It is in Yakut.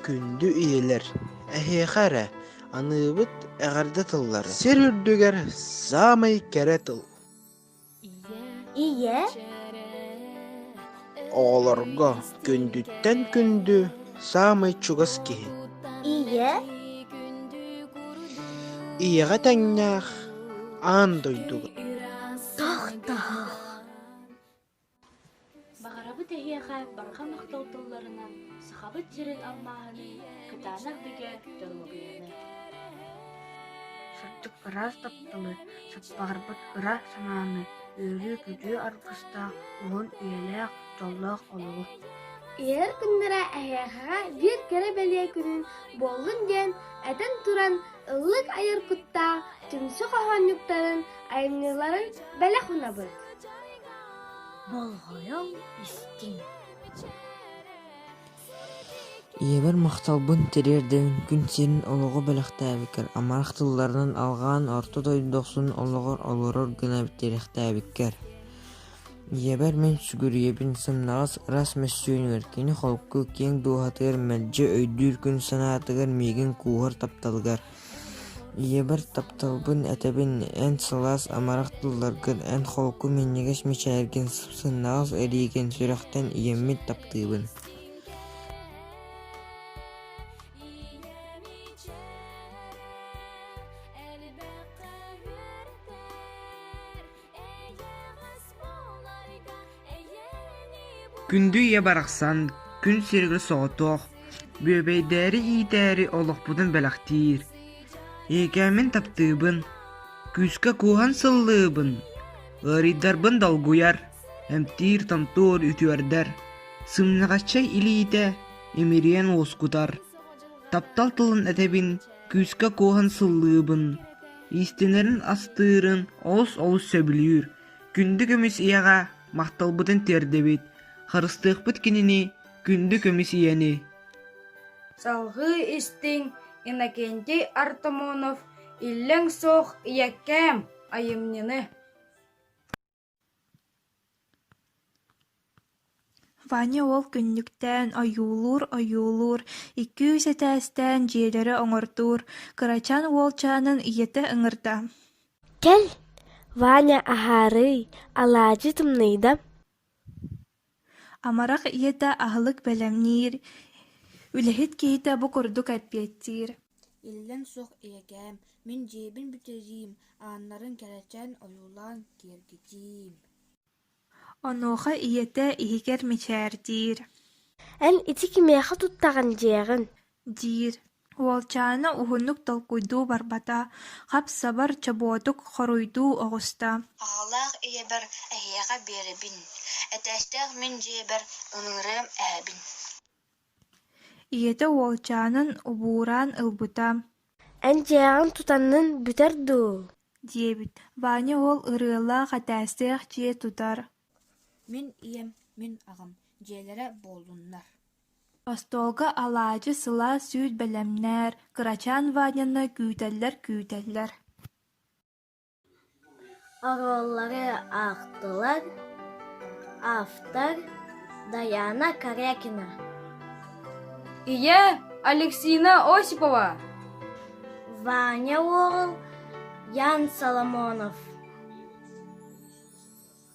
Күндү ийэлэр, эһиэхэ эрэ аныыбыт эҕэрдэ тыллары сир үрдүгэр саамай кэрэ тыл Ийэ оҕолорго күндүттэн күндү саамай чугас киһи. Ийэ ийэҕэ тэҥнээх аан дойдуга. Тохтоох. Баҕарабыт эһиэхэ барҕа махтал тылларынан Сахабыт сирин алмааһыны, кытаанах бигээт доруобуйаны! Сырдык ыраас тапталы, саппаҕырбыт ыра санааны, үөрүү-көтүү аргыстаах, уһун үйэлээх, дьоллоох олоҕу! Ийэр күннэрэ эһиэхэ биир кэрэ-бэлиэ күнүн буоллун диэн этэн туран ыллык айар куттаах түмсүү хоһоонньуктарын айымньыларын бэлэх унабыт! болҕойон истиҥ ийэбэр махталбын тириэрдэбин күн сирин олоҕо бэлэхтээбиккэр амарах тылларынан алҕаан орто дойду дохсун олоҕор олорор гына тирэхтээбиккэр ийэбэр мин сүгүрүйэбин сымнаҕас ырас мөссүөнүгэр кини холку киэҥ дууһатыгар мэлдьи өйдүүр күн санаатыгар миигин кууһар тапталыгар ийэбэр тапталбын этэбин эн сылаас амарах тылларгын эн холку минньигэс мичээргин сымнаҕас илиигин сүрэхтэн ийэммин таптыыбын Күндү ийэ барахсан, күн сиригэ соҕотох, бүөбэйдээри иитээри олохпутун бэлэхтиир. Эйэкээммин таптыыбын, күүскэ кууһан сыллыыбын, ыарыйдарбын долгуйар, эмтиир, томтуур, үтүөрдэр, сымнаҕаччай илиитэ имириэн уоскутар. Таптал тылын этэбин, күүскэ кууһан сыллыыбын. Иистэнэрин астыырын олус олус сөбүлүүр. Күндү көмүс ийэҕэ махталбытын тиэрдэбит. Харыстыахпыт кинини күндү көмүс ийэни. Салгыы истиҥ Иннокентий Артамонов Иллэҥ суох ийэкээм айымньыны Ваня уол күннүктээн ойуулуур-ойуулуур, икки-үс этээстээн дьиэлэри оҥордуур, кырачаан уолчаанын ийэтэ ыҥырда: «Кэл, Ваня аһаарыай, алаадьы тымныйда Амарах ийэтэ аһылык бэлэмниир, үлэһит киһитэ бу курдук эппиэттиир: «Иллэҥ суох ийэкээм, мин дьиэбин бүтэриим, ааннарын кэрэчээн ойуулаан киэргэтиим» Онуоха ийэтэ иһигэр мичээрдиир: «Эн ити кимиэхэ туттаҕын дьиэҕин диир, уолчаана уһуннук толкуйдуу барбата, хап-сабар, чобуотук хоруйдуу оҕуста: Аҕалаах ийэбэр эһиэхэ биэрэбин, этээстээх мин дьиэбэр ыҥырыам эһэбин ийэтэ уолчаанын убуураан ылбыта: Эн дьиэҕиҥ тутаннын бүтэр дуу? диэбит, Ваня уол ырыалаах этээстээх дьиэ тутар: Мин ийэм, мин аҕам дьиэлэрэ буоллуннар Остуолга алаадьы, сылаас сүүс бэлэмнээр, кырачаан Ваняны күүтэллэр-күүтэллэр оруоллары аахтылар автор Дайаана Корякина ийэ Алексина Осипова Ваня уол Ян Соломонов